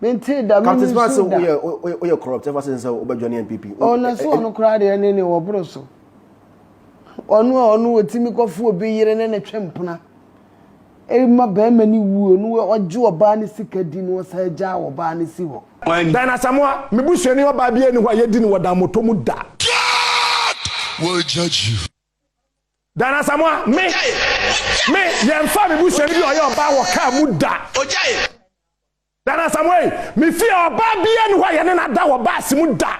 mentee da me nusu da captain sɛ woyɛ woyɛ corrupt ɛfa sɛ sɛ wobɛdwane npp ɔno so ɔno koraa deɛ ne ne wɔboro so ɔno a ɔno wɔtumi kɔfo obi yere ne ne twe mpena ɛma bɛrima ne wuo no ɔgye ɔbaa ne sika di no ɔsa agya ɔbaa ne si hɔ Dan Asamoah, me busuani ɔbaa bi ani hɔ a yɛdi no wɔ Dammɔtɔ mu da. God will judge you. Dan Asamoah, me, me, yɛmfa me busua no bi ɔyɛ ɔbaa wɔ kaa mu da. Dan Asamoah yi, me fie ɔbaa bia ni hɔ a yɛne no ada wɔ baase mu da.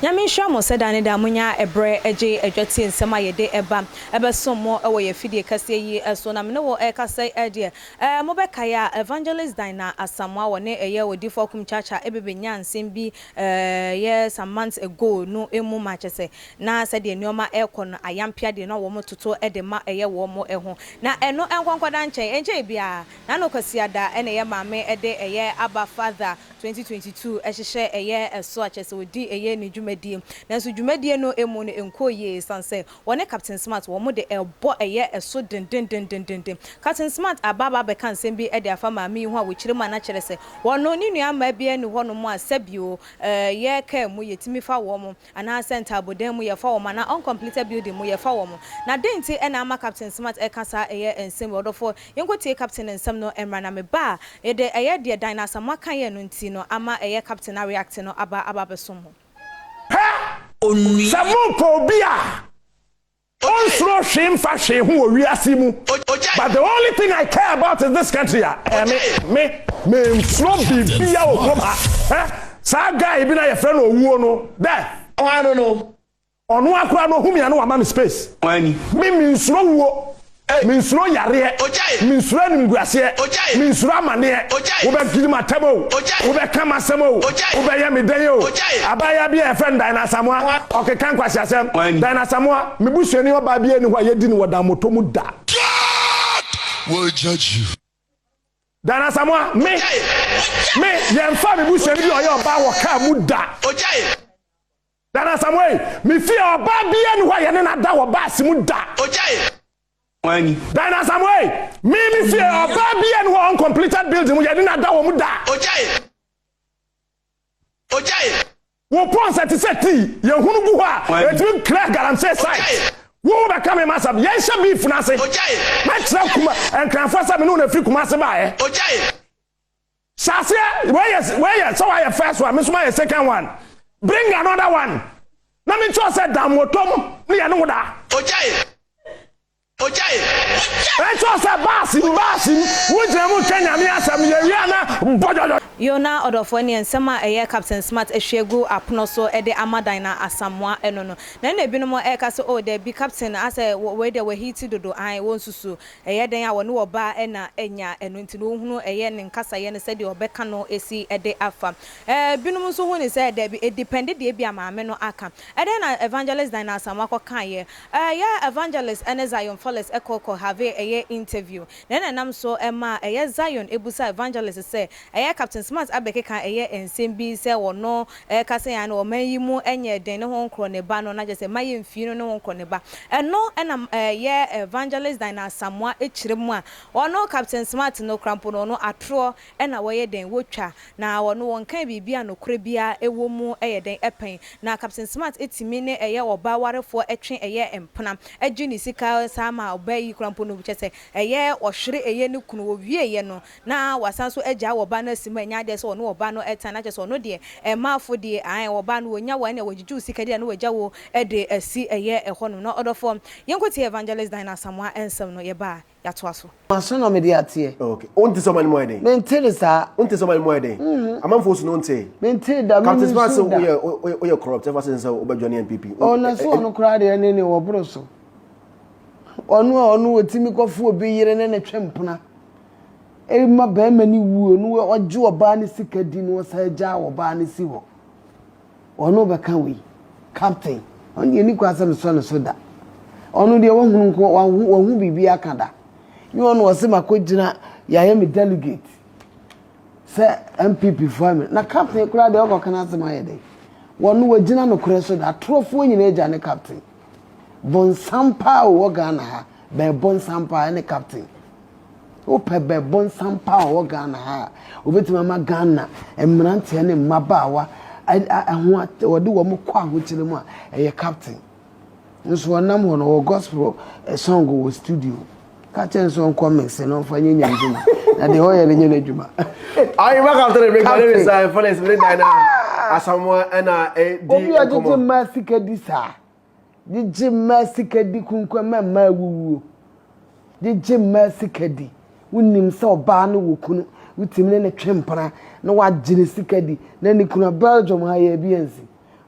Nyame nhyira mo sɛ da ne da monya ɛberɛ gye adwa tie nsɛm a yɛde ba bɛsom mo wɔ yɛn afidie kɛseɛ yi so. Na me ne wo ɛrekasa yi deɛ, Ɛ, mobɛkae a, Evangelist Dinah Asamoah, wɔ ne Ɛyɛ Odifo Akum Church a ɛbɛ bɛnyaa nsɛm bi ɛ, yɛ some months ago no mu ma kyerɛ sɛ, na sɛdeɛ nneɛma ɛrekɔ no, ayampea deɛ na wɔn toto de ma ɛyɛ wɔn ho. Na ɛno nkɔnkɔda nkyɛe, ɛnkyɛe biara, na no Kwasiada na ɛyɛ Maame de ɛyɛ Abba Father 2022 hyehyɛ ɛyɛ ɛso a kyerɛ sɛ ɔdi ɛyɛ ne dwumadie. Nanso dwumadie no mu no ɛnkɔɔ yie ɛsiane sɛ Wɔne Captain Smart wɔn de ɛbɔ ɛyɛ ɛso dendendendendenden. Captain Smart aba aba abɛka nsɛm bi de afa maame yi ho a wɔkyiri mu a na kyerɛ sɛ wɔno ne nuammaa biara nni hɔnom a sɛbio eh, yɛ car mu yɛtumi fa wɔn anaa sɛ ntaabodan mu yɛfa wɔn anaa uncompleted building mu yɛfa wɔn. Na dɛn nti na ama Captain Smart ɛka saa ɛyɛ nsɛm wei? Ɔdɔfoɔ, yɛnkɔtie Captain nsɛm no mmra na me ba a, yɛde ɛyɛ deɛ Dinah Asamoah kaeɛ no nti no ama ɛyɛ Captain a react no aba aba abɛsom ho. Pɛ, sɛ morepɛ obi a ɔnsuro hwee mfa hwee ho wɔ wiase yi mu, but the only thing I care about is this country a, ɛyɛ me, me, mensuro biribiara wɔ kurom ha. Hwɛ saa guy bi no a yɛfrɛ no Owuo no, dɛ. Hwan no no? Ɔno ara koraa no ohu me a na wama me space. Me mensuro wuo, mensuro yareɛ, mensuro animguaseɛ, mensuro amaneɛ, wobɛdwene m'atam oo, wobɛka m'asɛm oo, wobɛyɛ me dɛn oo, abaayaa bi a yɛfrɛ no Diana Asamoah, ɔkeka nkwaseasɛm, Diana Asamoah, me busuani ɔbaa biara nni hɔ a yɛdi no wɔ dammɔtɔ mu da. God will judge you. Diana Asamoah, me, me, yɛmfaa me busuani bi a ɔyɛ ɔbaa wɔ kaa mu da. Dan Asamoei, Me fie, ɔbaa biara nni hɔ a yɛne no ada wɔ baase mu da. Ogyae wɔn ani. Dan Asamoei, Me, me fie, ɔbaa biara nni hɔ a uncompleted building mu yɛne no ada wɔ mu da. Ogyae, ogyae. Wo pɔnsa te sɛ tii, yɛhunu gu hɔ a, ɛtumi clear galamsey sites. Wo wo bɛka me masɛm, yɛnhyɛ beef no ase. Ogyae. Mɛkyerɛ Kuma, Nkranfoɔ sɛ me ne wɔn firi Kumase baeɛ. Ogyae. Hyɛ aseɛ wei yɛ wei yɛ sɛ wayɛ first one me nso mayɛ second one bring another one na me nkyerɛ sɛ dan mo tɔm ne yɛne wo da. Ogyae! Ogyae! Ogyae! Make sure sɛ baasi mu baasi mu wo gyina mu ka Nyame asɛm yɛ wie a na bɔdwɔdwɔ. Yoo na ɔdɔfoɔ ɛneɛ nsɛm a ɛyɛ Captain Smart ahwie agu apono so de ama Dinah Asamoah no no na ɛna binom ɛreka sɛ oh dabi Captain asɛ wei deɛ wahiti dodo aane wonsusu Ɛyɛ dɛn a wɔne ɔbaa ɛna anya ɛno nti no wohunu ɛyɛ ne nkasayɛ no sɛdeɛ ɔbɛka no si de afa. Binom nso hu no sɛ dabi ɛdepɛnde deɛ ebia maame no aka. Ɛdɛn na Evangelist Dinah Asamoah kɔ kaeɛ? Ɛyɛ a Evangelist ɛne Zion Fales kɔ kɔ have ɛyɛ interview. Dɛn na ɛnam so maa ɛyɛ Zion busaa Evangelist sɛ Ɛyɛ Captain Smart abɛkeka ɛyɛ nsɛm bi sɛ wɔno ɛka sɛ yaa no ɔman yi mu ɛnyɛ den ne ho nkorɔ ne ba no na kyɛsɛ ma yɛ mfii no ne ho nkorɔ ne ba ɛno ɛna ɛyɛ Evangelist Dine Asamoah ɛkyerɛ mu a wɔno Captain Smart no kora mpo no wɔno atorɔ ɛna wɔyɛ dɛn wɔtwa na wɔno wɔnkae biribi a nokorɛ biara ɛwɔ mu ɛyɛ dɛn ɛpɛn na Captain Smart ɛtumi ne ɛyɛ ɔbaa warefoɔ ɛtwe ɛyɛ mpena ɛgye ne sika saa ma ɔbaa yi kora mpo no kyɛsɛ ɛyɛ ɔhwere ɛyɛ ne kunu wɔwieɛ no Na wasan so agyae ɔba no asi mu a ɛnyɛ adeɛ sɛ ɔne ɔba no tan na kyerɛ sɛ ɔno deɛ ɛmma afodeɛ ae ɔba no wɔnya wo a ɛnna wɔgyegye wo sika deɛ na wɔagya wo de asi ɛyɛ ɛhɔ nom na ɔdɔfoɔ yɛnkɔ tie Evangelist Dine Asamoah nsɛm no yɛba a yɛatoa so. Maso na mede ateɛ. Ok. Wonte sɛ ɔman no mu ayɛ den? Mente no saa. Wonte sɛ ɔman no mu ayɛ den? Mm-mm. Amanfoɔ su no wontee? Mentee da, Captain menim Smart su sɛ da. woyɛ wo- wo- woyɛ corrupt ɛfa sɛ sɛ wobɛ join NPP. Wo- Oh, na so ɛ- ɛ- ɔno koraa deɛ ne ne ɔboro so. Ɔno a ɔno ɔtumi kɔfo obi yere ne ne twe mpena. ɛma barima no wuo no ɔgye ɔbaa no sika di na ɔsan gya ɔbaa no si hɔ ɔno bɛka wei captain ɔno deɛ ni kwan sɛ mesɔ ne so da ɔno deɛ wahunu nko wahu wahu biribi aka da ne ɔno ɔsɛ makɔ gyina yɛayɛ me delegate sɛ npp foɔ me na captain koraa deɛ ɔkɔ kana asɛm ayɛ dɛ wɔn wagyina no korɛ so da atorofoɔ nyinaa gya ne captain bɔnsam paa wɔ ghana ha bɛɛ bɔnsam paa ne captain Wopɛ bɛbonsam pa a ɔwɔ Ghana ha a, obetumi ama Ghana mmeranteɛ ne mmabaawa ho at wɔde wɔn kɔ ahokyere mu a, ɛyɛ captain. Nso ɔnam hɔ no, ɔwɔ gospel eh, song wɔ studio. Ka kyerɛ no sɛ ɔnkɔ mese na ɔmfa nyɛ nyame dwuma. Na deɛ ɔyɛ no nyɛ n'adwuma. Ayi ba captain ne breka ne ne sa ɛfɔ ne sibire dan na asamoa ɛna ɛdi nkɔmɔ. Obi ɔgyegye mmaa sika di saa. Gyegye mmaa sika di kunkuam ma mmaa awuwuo. Gyegye mmaa sika di. Wonim sɛ ɔbaa no wɔ kunu, wotumi ne no twe mpena na wagye ne sika di na ne kunu a Belgium ha yɛn bi ansi.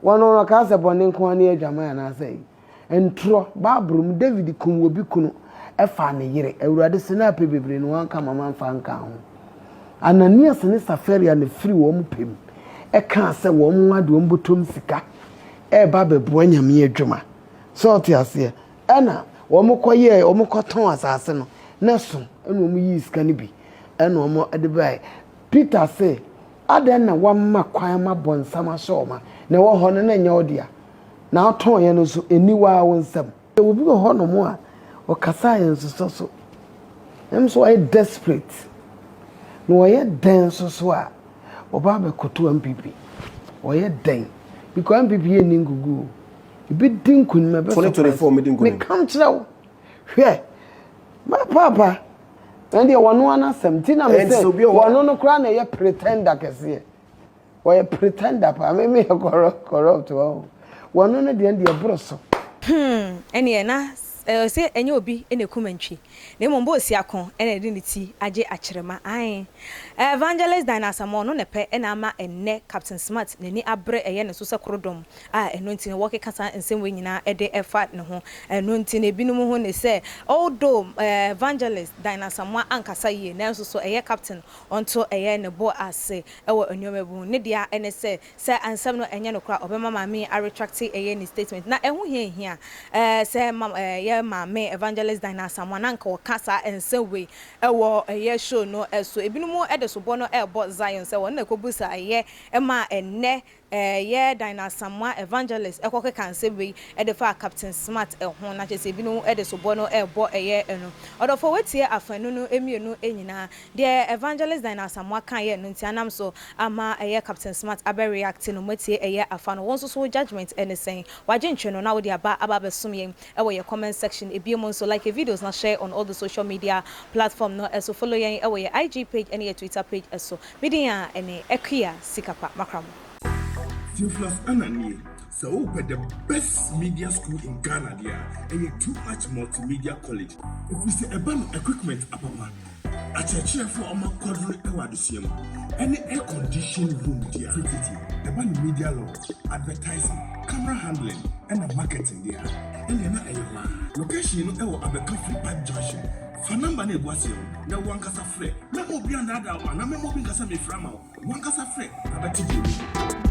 Wɔn no ɔkaa sɛ bɔne nko ara ne adwaman anaasɛ ayi. Ntorɔ, Bible mu David kum obi kunu faa ne yere. Awurade se na apɛ bebree na wanka ma mamfa anka ho. Ananias ne Safaria na ɛfiri wɔn pɛ mu kaa sɛ wɔn mmoa de wɔn bɔtɔm sika. ɛreba abɛboa Nyame adwuma. So wote aseɛ? Ɛna wɔkɔyɛɛ, wɔkɔtɔn asase no, na ɛso, ɛna wɔyii sika no bi, ɛna wɔde baeɛ. Peter se, Adɛn na woama kwan ma bonsam ahyɛ wo ma, na ɛwɔ hɔ no na ɛnyɛ wo dea? Na wotɔeɛ no nso, ɛnni wo ara wo nsam. Yɛwɔ obi wɔ hɔnom a, ɔkasa a ɛnsosɔ so. Ɛno nso ɔyɛ desperate. Na ɔyɛ dɛn nso so a, ɔba abɛkoto MPP. Ɔyɛ dɛn? Because MPP yɛ nni nkugu o. Ebi di nkunim, ɛbɛ surprise. 2024 medi nkunim. Meka nkyerɛ wo. Hwɛ. Ma paapa. Ɛndeɛ wɔno ara n'asɛm. Nti na me sɛ wɔno no koraa na ɛyɛ pretender kɛseɛ. Wɔyɛ pretender paa, me me yɛ corrupt corrupt wɔ ho. Wɔn no no deɛ deɛ boro so. Hmm ɛneɛ na ɔse ɛnyɛ obi na ɛkum antwi na mmom bɛ osiako na ɛde ne ti agye akyerema ae Evangelist Dine Asamoah ɔno na ɛpɛ na ama ɛnnɛ Captain Smart n'ani abere ɛyɛ ne so sɛ korodom a ɛno nti na wɔkeka saa nsɛm wei nyinaa de ɛfa ne ho ɛno nti na ebinom ho ne sɛ although Evangelist Dine Asamoah ankasa yie nanso so ɛyɛ Captain Ɔnto yɛn ne bo ase wɔ nneɛma bi ho. Ne dea ne sɛ, sɛ nsɛm no nyɛ nokorɛ a, ɔbɛma maame yi aretracte ɛyɛ ne statement. Na ɛho hia nhia ɛɛ sɛ ma ɛɛ yɛn maame Evangelist Dinah Asamoah na anka ɔka saa nsɛm wei wɔ ɛyɛ show no so. Ebinom de sobɔ no rebɔ Zion sɛ wɔn na ɛkɔbu saa yɛ maa ɛnnɛ Ɛyɛ Dinah Asamoah Evangelist kɔkeka nsɛm wei de faa Captain Smart ho, na kyerɛ sɛ ebinom de soboɔ no rebɔ ɛyɛ no. Ɔdɔfoɔ woatie afanu no mmienu nyinaa. Deɛ Evangelist Dinah Asamoah kaeɛ no nti anam so ama ɛyɛ Captain Smart abɛ react no, moatie ɛyɛ afa no. Wo nso so wo judgement ne sɛn? Wagye ntwɛn no na wode aba aba abɛsom yɛn wɔ yɛn comment section. Ebiem nso, like yɛn videos na share on all the social media platform no so. Follow yɛn wɔ yɛn IG page ne yɛn Twitter page so. Me din a ɛne Akua Sikapa Makramo. Theophilus Anna nie, sɛ wopɛ the best media school in Ghana deɛ a, ɛyɛ Too Much Multimedia College. Ɛfiri sɛ ɛba no equipment apapa, akyerɛkyerɛfoɔ a wɔakwadro wɔ adesua mu, ɛne air conditioned room deɛ a, tititi, ɛba no media law, advertising, camera handling ɛna marketing deɛ a, ɛnneɛ na ɛyɛ hɔ ara. Location no wɔ Abɛka Free Park Junction. Fa nɔmba no a egu aseɛ no na wo ankasa frɛ. Mɛma obi andaadaa wo anaa mɛma obi nka sɛ meefrɛ ama wo. Wo ankasa frɛ na bɛte deɛ wohu.